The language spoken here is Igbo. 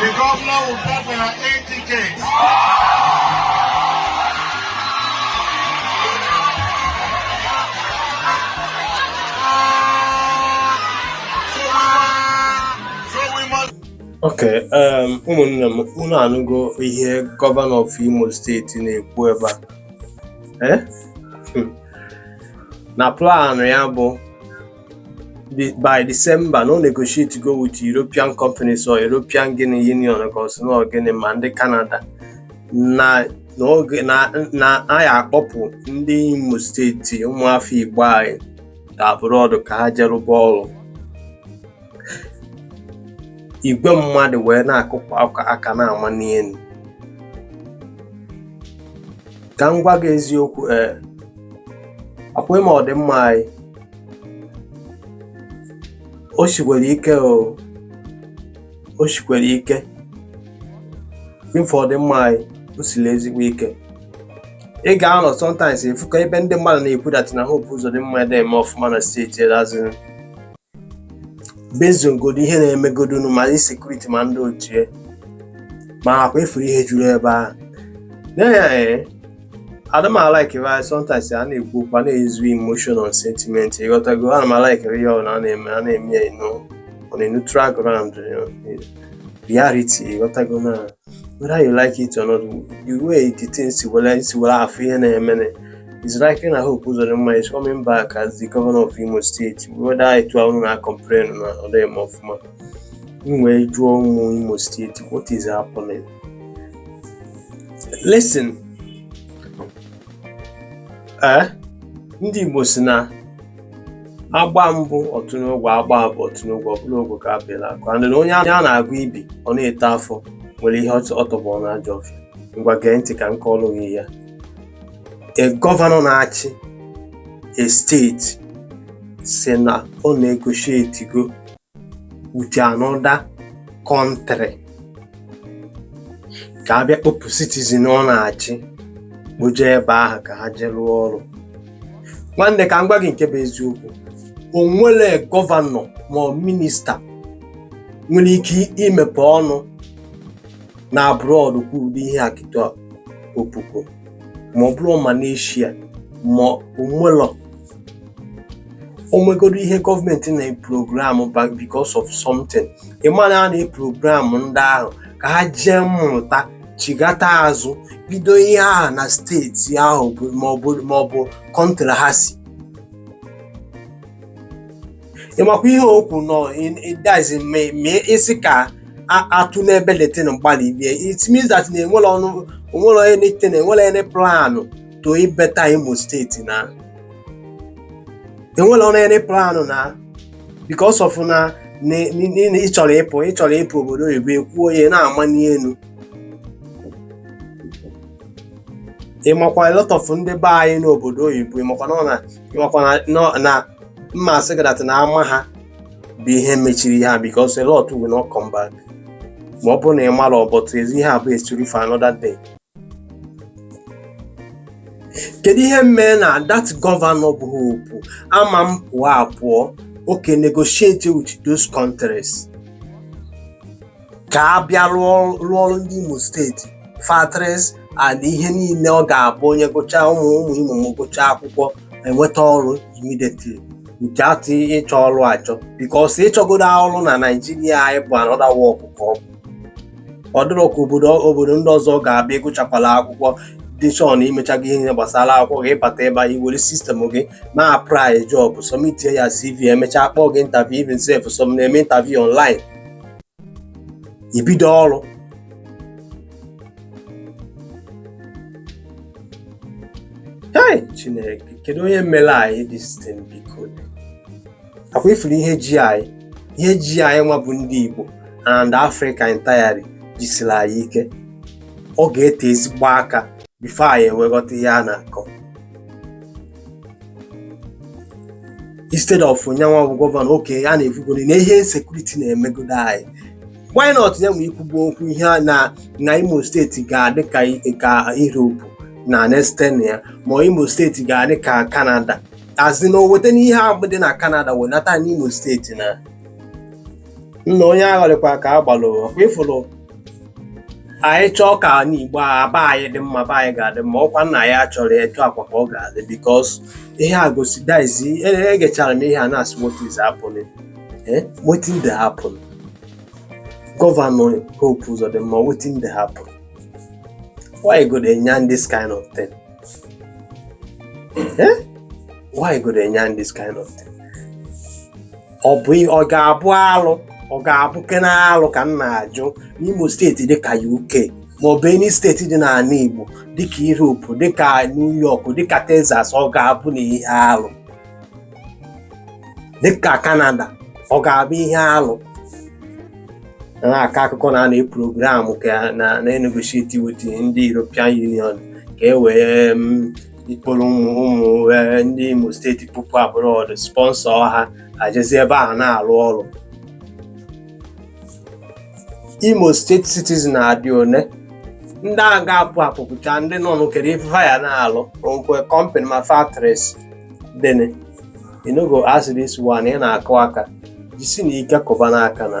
The governor will pay for your air tickets. ok um, ụmụnne m unu anụgo ihe gọvanọ of imo steeti na-ekwu ebe a eh? hmm. na plan ya bụ by December na o negotiate go with European companies or European gịnị Union ka ọ sị na gịnị ma ndị Canada na n'oge na a ya-akpọpụ ndị Imo steeti ụmụafọ Igbo anyị ga abroad ka ha jee rụba ọrụ igwe mmadụ wee na-akụpụ aka na-amali elu ka m gwa gị eziokwu ee ọkwa ịma ọdịmma anyị o sikwere ike o o sikwere ike ịfụ ọdịmma anyị o siri ezigbo ike ị ga-anọ sometimes ị fụ ka ebe ndị mmadụ na-ekwu that na Hope Uzodinma adịghị eme ọfụma na steeti erazi bezogodo ihe na-emegodonu ma ndị sekuriti ma ndị ochie ma ọkwa a fụrụ ihe juru ebe ahụ adịghị m alike anyị sometimes a na-ekwu okwu a na-euse emotion and sentiment ị ghọtago ana m alike ihe ọbụla a na-eme a na-eme ya you know on a neutral ground reality ị ghọtago na whether you like it or not the way the thing si were si were afụ ihe na-eme na is likely na Hope Uzodinma is coming back as the governor of Imo State whether etu ahụ na complain na ọ dịghị eme ọfụma m wee jụọ ụmụ Imo State what is happening listen ee eh? ndị Igbo si na a gbaa mbụ ọ tụ n'ogwe a gbaa abụọ ọ tụ n'ogwe ọ bụ ogwe ka a pịalụ akụ and na onye a na-agwọ ibi ọ na-eto afọ nwere ihe ọ tọgbọ na ajọ ọfịa ngwa gee ntị ka m kọọlụ gị ya e gọvanọ na-achị e steeti si na o negotiate go with another country ka a bịa kpọpụ citizen ọ na-achị kpoje ebe ahụ ka ha jee rụọ ọrụ nwanne ka m gwa gị nke bụ eziokwu o nwere gọvanọ ma ọ minista nwere ike imepe ọnụ na abroad kwuo ụdị ihe a kịta opupu ma ọ bụrụ Malaysia ma o nwere onwegodo ihe gọọmenti na-eprogramu because of something ịmana a na-eprogramu ndị ahụ ka ha jee mụta chigata azụ bido ihe ahụ na steeti ahụ maọbụ kọntrị ha si ịmakwa ihe o kwuru nọ ịdazi mee isi ka atụ n'ebe letin mgbalị bie it means that na enwerọ any onwerọ anything na enwerọ any plan to better Imo steeti na enwerọ any plan na because of na ị chọrọ ịpụ ị chọrọ ịpụ obodo oyibo ekwuo ya na-ama n'elu ịmakwa a lot of ndị be anyị n'obodo oyibo ịmakwa na ịmakwa na mma sị gị na ama ha bụ ihe mechiri ha because a lot will not come back ma ọ bụrụ na ị mara but ezi ihe a bụ story for another day kedu ihe mee na that gọvanọ bụ Hope ama m pụọ apụọ oke negotiate with those countries ka ha bịa rụọ rụọrụ ndị Imo steeti factories and ihe niile ọ ga-abụ onye gụchaa ụmụ ụmụ Imo ma gụchaa akwụkwọ enweta ọrụ immediately without ịchọ ọrụ achọ because ịchọgodo ọrụ na Naịjirịa anyị bụ another work ka ọ bụ ọ dịrọ ka obodo obodo ndị ọzọ ga-abụ ịgụchakwala akwụkwọ dị sure na imechago ihe niile gbasara akwụkwọ gị ịbata ebe a iwere sistemụ gị ma apply job sọmitie your CV emechaa kpọọ gị interview even sef some na-eme interview online ibido ọrụ Hey, Chineke, kedu onye mere anyị this thing biko? ọkwa ịfụrụ ihe ji anyị ihe ji anyị nwa bụ ndị Igbo and Africa entirely jisiri anyị ike ọ ga-ete ezigbo aka bifo anyị ewee ghọta ihe a na-akọ instead of nyanwa bụ gọvanọ oke a na-ekwugoro na ihe sekuriti na-emegodo anyị why not ya nwa ikwugbu okwu ihe a na na Imo steeti ga-adị ka Europe na next ten years ma Imo steeti ga-adị ka Canada as in na o weta n'ihe ahụ dị na Canada wenata n'Imo steeti na nna onye agharịkwa ka a gbalụ ọkwa ịfụrụ anyị chọọ ka anị Igbo a be anyị dị mma be anyị ga-adị mma ọkwa na anyị chọrọ ya etu a kwa ka ọ ga-adị bikos ihe a gosi dizi egechara m ihe a na-asị what is happening eh? wetin dey happen gọvanọ Hope Uzodinma wetin dey happen why you go dey yarn this kind of thing Eh? why you go dey yarn this kind of thing ọ bụ ọ ga-abụ alụ ọ ga-abụ kena alụ ka m na-ajụ n'Imo steeti dịka UK ma ọ bụ any steeti dị n'ala Igbo dịka Europe dịka New York dịka Texas ọ ga-abụ na ihe alụ dịka Canada ọ ga-abụ ihe alụ na-akọ akụkọ na a na program ka na-enegotiate with ndị European Union ka e wee mm, kpọrọ ụmụ ụmụ eh, ndị Imo steeti bupụ abroad sponsor ha ajezi ebe ahụ na-alụ ọrụ Imo steeti citizen ha dị one ndị a ga-apụ apụpụcha ndị nọ n'okere ife fa ya na-alụ nkwe company ma factories dene you no go ask this one ị na-akụ aka jisinụ ike kụbanụ aka na